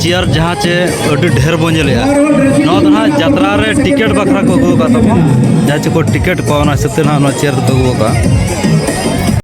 chair ᱡᱟᱦᱟᱸ ᱪᱮ ᱟᱹᱰᱤ ᱰᱷᱮᱨ ᱵᱚᱱ ᱧᱮᱞᱮᱜᱼᱟ ᱱᱚᱣᱟ ᱫᱚ ᱱᱟᱦᱟᱜ ᱡᱟᱛᱨᱟ ᱨᱮ ᱴᱤᱠᱮᱴ ᱵᱟᱠᱷᱨᱟ ᱠᱚ ᱟᱹᱜᱩ ᱟᱠᱟᱫ ᱛᱟᱵᱚᱱ ᱡᱟᱦᱟᱸ ᱪᱮ ᱠᱚ ᱴᱤᱠᱮᱴ ᱠᱚ ᱚᱱᱟ ᱦᱤᱥᱟᱹᱵ ᱛᱮ ᱱᱟᱦᱟᱜ ᱱᱚᱣᱟ ᱪᱮᱭᱟᱨ ᱫᱚᱠᱚ ᱟᱹᱜᱩ ᱟᱠᱟᱫᱼᱟ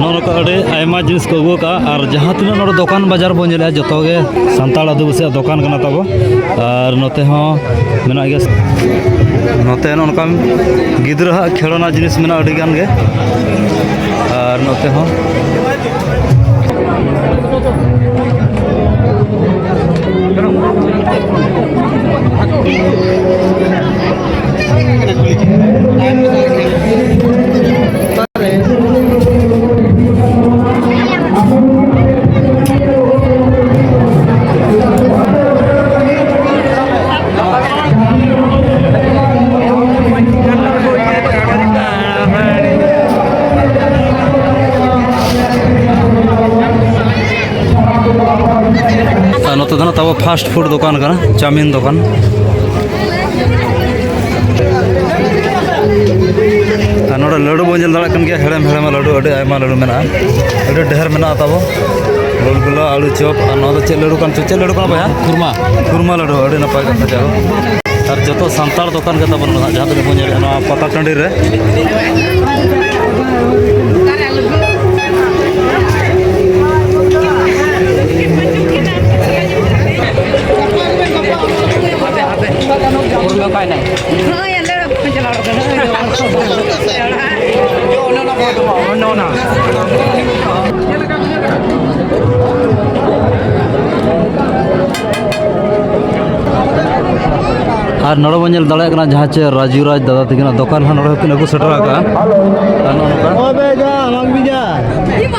ᱱᱚᱝᱠᱟ ᱟᱹᱰᱤ ᱟᱭᱢᱟ ᱡᱤᱱᱤᱥ ᱠᱚ ᱟᱹᱜᱩ ᱠᱟᱜᱼᱟ ᱟᱨ ᱡᱟᱦᱟᱸ ᱛᱤᱱᱟᱹᱜ ᱱᱚᱰᱮ ᱫᱚᱠᱟᱱ ᱵᱟᱡᱟᱨ ᱵᱚᱱ ᱧᱮᱞᱮᱜᱼᱟ ᱡᱚᱛᱚ ᱜᱮ ᱥᱟᱱᱛᱟᱲ ᱟᱹᱫᱤᱵᱟᱹᱥᱤᱭᱟᱜ ᱫᱚᱠᱟᱱ ᱠᱟᱱᱟ ᱛᱟᱵᱚ ᱟᱨ ᱱᱚᱛᱮ ᱦᱚᱸ ᱢᱮᱱᱟᱜ ᱜᱮᱭᱟ ᱱᱚᱛᱮ ᱱᱚᱜᱼᱚ ᱱᱚᱝᱠᱟᱱ ᱜᱤᱫᱽᱨᱟᱹ ᱦᱟᱜ ᱠᱷᱮᱞᱳᱱᱟ ᱡᱤᱱᱤᱥ ᱢᱮᱱᱟᱜᱼᱟ ᱟᱹᱰᱤ ᱜᱟᱱ ᱜᱮ ᱟᱨ ᱱᱚᱛᱮ ᱦᱚᱸ ᱱᱚᱛᱮ ᱫᱚ ᱛᱟᱵᱚ ᱯᱷᱟᱥᱴ ᱯᱷᱩᱰ ᱫᱚᱠᱟᱱ ᱠᱟᱱᱟ ᱪᱟᱣᱢᱤᱱ ᱫᱚᱠᱟᱱ ᱟᱨ ᱱᱚᱰᱮ ᱞᱟᱹᱰᱩ ᱵᱚᱱ ᱧᱮᱞ ᱫᱟᱲᱮᱭᱟᱜ ᱠᱟᱱ ᱜᱮᱭᱟ ᱦᱮᱲᱮᱢ ᱦᱮᱲᱮᱢ ᱞᱟᱹᱰᱩ ᱟᱹᱰᱤ ᱟᱭᱢᱟ ᱞᱟᱹᱰᱩ ᱢᱮᱱᱟᱜᱼᱟ ᱟᱹᱰᱤ ᱰᱷᱮᱨ ᱢᱮᱱᱟᱜᱼᱟ ᱛᱟᱵᱚ ᱜᱳᱞᱜᱩᱞᱟ ᱟᱹᱞᱩ ᱪᱚᱯ ᱟᱨ ᱱᱚᱣᱟ ᱫᱚ ᱪᱮᱫ ᱞᱟᱹᱰᱩ ᱠᱟᱱ ᱪᱚ ᱪᱮᱫ ᱞᱟᱹᱰᱩ ᱠᱟᱱᱟ ᱵᱚᱭᱦᱟ ᱠᱩᱨᱢᱟ ᱠᱩᱨᱢᱟ ᱞᱟᱹᱰᱩ ᱟᱹᱰᱤ ᱱᱟᱯᱟᱭ ᱠᱟᱛᱷᱟ ᱡᱟᱭ ᱦᱳᱠ ᱟᱨ ᱡᱚᱛᱚ ᱥᱟᱱᱛᱟᱲ ᱫᱚᱠᱟᱱ ᱜᱮ ᱛᱟᱵᱚᱱ ᱢᱮᱱᱟᱜᱼᱟ ᱡᱟᱦᱟᱸ ᱛᱤᱱᱟᱹᱜ ᱵᱚᱱ ᱧᱮᱞᱮᱫᱼᱟ ᱱᱚᱣᱟ ᱯᱟᱛᱟ ᱴᱟᱺᱰᱤ ᱨᱮ ᱟᱨ ᱱᱚᱰᱮ ᱵᱚᱱ ᱧᱮᱞ ᱫᱟᱲᱮᱭᱟᱜ ᱠᱟᱱᱟ ᱡᱟᱦᱟᱸ ᱪᱮ ᱨᱟᱡᱩ ᱨᱟᱡᱽ ᱫᱟᱫᱟ ᱛᱟᱹᱠᱤᱱᱟᱜ ᱫᱚᱠᱟᱱ ᱦᱚᱸ ᱱᱚᱰᱮ ᱠᱤᱱ ᱟᱹᱜᱩ ᱥᱮᱴᱮᱨ ᱟᱠᱟᱫᱼᱟ ᱟᱨ ᱱᱚᱜᱼᱚ ᱱᱚᱝᱠᱟ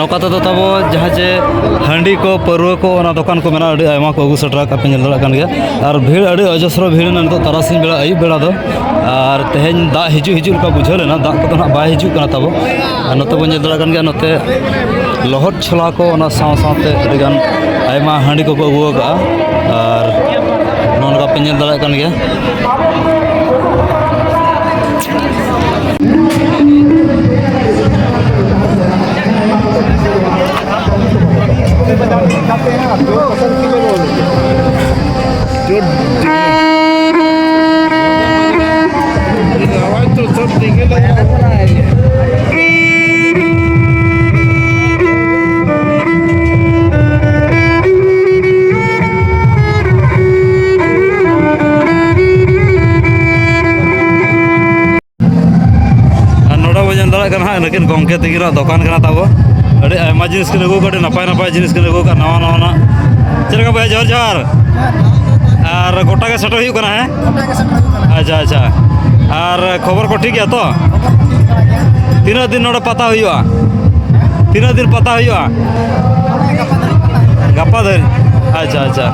ᱱᱚᱝᱠᱟ ᱛᱮᱫᱚ ᱛᱟᱵᱚ ᱡᱟᱦᱟᱸ ᱡᱮ ᱦᱟᱺᱰᱤ ᱠᱚ ᱯᱟᱹᱨᱣᱟᱹ ᱠᱚ ᱚᱱᱟ ᱫᱚᱠᱟᱱ ᱠᱚ ᱢᱮᱱᱟᱜᱼᱟ ᱟᱹᱰᱤ ᱟᱭᱢᱟ ᱠᱚ ᱟᱹᱜᱩ ᱥᱮᱴᱮᱨ ᱟᱠᱟᱫ ᱯᱮ ᱧᱮᱞ ᱫᱟᱲᱮᱭᱟᱜ ᱠᱟᱱ ᱜᱮᱭᱟ ᱟᱨ ᱵᱷᱤᱲ ᱟᱹᱰᱤ ᱚᱡᱚᱥᱨᱚ ᱵᱷᱤᱲ ᱮᱱᱟ ᱱᱤᱛᱚᱜ ᱛᱟᱨᱟᱥᱤᱧ ᱵᱮᱲᱟ ᱟᱹᱭᱩᱵ ᱵᱮᱲᱟ ᱫᱚ ᱟᱨ ᱛᱮᱦᱮᱧ ᱫᱟᱜ ᱦᱤᱡᱩᱜ ᱦᱤᱡᱩᱜ ᱞᱮᱠᱟ ᱵᱩᱡᱷᱟᱹᱣ ᱞᱮᱱᱟ ᱫᱟᱜ ᱠᱚᱫᱚ ᱱᱟᱦᱟᱜ ᱵᱟᱭ ᱦᱤᱡᱩᱜ ᱠᱟᱱᱟ ᱛᱟᱵᱚ ᱟᱨ ᱱᱚᱛᱮ ᱵᱚᱱ ᱧᱮᱞ ᱫᱟᱲᱮᱭᱟᱜ ᱠᱟᱱ ᱜᱮᱭᱟ ᱱᱚᱛᱮ ᱞᱚᱦᱚᱫ ᱪᱷᱚᱞᱟ ᱠᱚ ᱚᱱᱟ ᱥᱟᱶ ᱥᱟᱶᱛᱮ ᱟᱹᱰᱤᱜᱟᱱ ᱟᱭᱢᱟ ᱦᱟᱺᱰᱤ ᱠᱚᱠᱚ ᱟᱹᱜᱩ ᱟᱠᱟᱫᱼᱟ ᱟᱨ ᱱᱚᱜᱼᱚ ᱱᱚᱝᱠᱟ ᱯᱮ ᱧᱮᱞ ᱫᱟᱲᱮᱭᱟᱜ ᱠᱟᱱ ᱜᱮᱭᱟ ᱜᱚᱝᱠᱮ ᱛᱤᱠᱤᱱᱟᱜ ᱫᱚᱠᱟᱱ ᱠᱟᱱᱟ ᱛᱟᱵᱚ ᱟᱹᱰᱤ ᱟᱭᱢᱟ ᱡᱤᱱᱤᱥ ᱠᱤᱱ ᱟᱹᱜᱩ ᱠᱟᱜᱼᱟ ᱟᱹᱰᱤ ᱱᱟᱯᱟᱭ ᱱᱟᱯᱟᱭ ᱡᱤᱱᱤᱥ ᱠᱤᱱ ᱟᱹᱜᱩ ᱠᱟᱜᱼᱟ ᱱᱟᱣᱟ ᱱᱟᱣᱟᱱᱟᱜ ᱪᱮᱫ ᱞᱮᱠᱟ ᱵᱚᱭᱦᱟ ᱡᱚᱦᱟᱨ ᱡᱚᱦᱟᱨ ᱟᱨ ᱜᱚᱴᱟ ᱜᱮ ᱥᱮᱴᱮᱨ ᱦᱩᱭᱩᱜ ᱠᱟᱱᱟ ᱦᱮᱸ ᱟᱪᱪᱷᱟ ᱟᱪᱪᱷᱟ ᱟᱨ ᱠᱷᱚᱵᱚᱨ ᱠᱚ ᱴᱷᱤᱠ ᱜᱮᱭᱟ ᱛᱚ ᱛᱤᱱᱟᱹᱜ ᱫᱤᱱ ᱱᱚᱰᱮ ᱯᱟᱛᱟ ᱦᱩᱭᱩᱜᱼᱟ ᱛᱤᱱᱟᱹᱜ ᱫᱤᱱ ᱯᱟᱛᱟ ᱦᱩᱭᱩᱜᱼᱟ ᱜᱟᱯᱟ ᱫᱷᱟᱹᱨᱤᱡ ᱟᱪᱪᱷᱟ ᱟᱪᱪᱷᱟ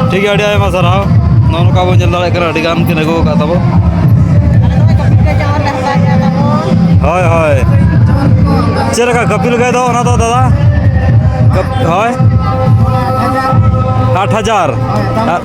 ᱴᱷᱤᱠ ᱜᱮᱭᱟ ᱟᱹᱰᱤ ᱟᱭᱢᱟ ᱥᱟᱨᱦᱟᱣ ᱱᱚᱜᱼᱚ ᱱᱚᱝᱠᱟ ᱵᱚᱱ ᱧᱮᱞ ᱫᱟᱲᱮᱭᱟᱜ ᱠᱟᱱᱟ ᱟᱹᱰᱤ ᱜᱟᱱ ᱠᱤᱱ ᱟᱹᱜᱩ ᱟᱠᱟᱫ ᱛᱟᱵᱚ ᱦᱳᱭ ᱦᱳᱭ ᱪᱮᱫ ᱞᱮᱠᱟ ᱠᱟᱹᱯᱤᱞ ᱜᱟᱹᱭ ᱫᱚ ᱚᱱᱟ ᱫᱚ ᱫᱟᱫᱟ ᱠᱟᱹᱯ- ᱦᱳᱭ ᱟᱴ ᱦᱟᱡᱟᱨ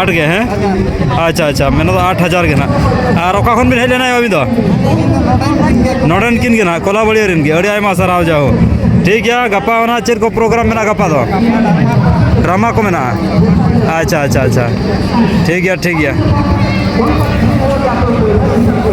ᱟᱴ ᱜᱮ ᱦᱮᱸ ᱟᱪᱪᱷᱟ ᱟᱪᱪᱷᱟ ᱢᱮᱱ ᱫᱚ ᱟᱴ ᱦᱟᱡᱟᱨ ᱜᱮ ᱱᱟᱜ ᱟᱨ ᱚᱠᱟ ᱠᱷᱚᱱ ᱵᱤᱱ ᱦᱮᱡ ᱞᱮᱱᱟ ᱟᱹᱵᱤᱱ ᱫᱚ ᱱᱚᱰᱮᱱ ᱠᱤᱱ ᱜᱮ ᱱᱟᱜ ᱠᱚᱞᱟᱵᱟᱲᱤᱭᱟᱹ ᱨᱮᱱ ᱜᱮ ᱟᱹᱰᱤ ᱟᱭᱢᱟ ᱥᱟᱨᱦᱟᱣ ᱡᱟᱣ ᱴᱷᱤᱠ ᱜᱮᱭᱟ ᱜᱟᱯᱟ ᱚᱱᱟ ᱪᱮᱫ ᱠᱚ ᱯᱨᱳᱜᱨᱟᱢ ᱢᱮᱱᱟᱜᱼᱟ ᱜᱟᱯᱟ ᱫᱚ ᱰᱨᱟᱢᱟ ᱠᱚ ᱢᱮᱱᱟᱜᱼᱟ ᱟᱪᱪᱷᱟ ᱟᱪᱪᱷᱟ ᱟᱪᱪᱷᱟ ᱴᱷᱤᱠ ᱜᱮᱭᱟ ᱴᱷᱤᱠ ᱜᱮᱭᱟ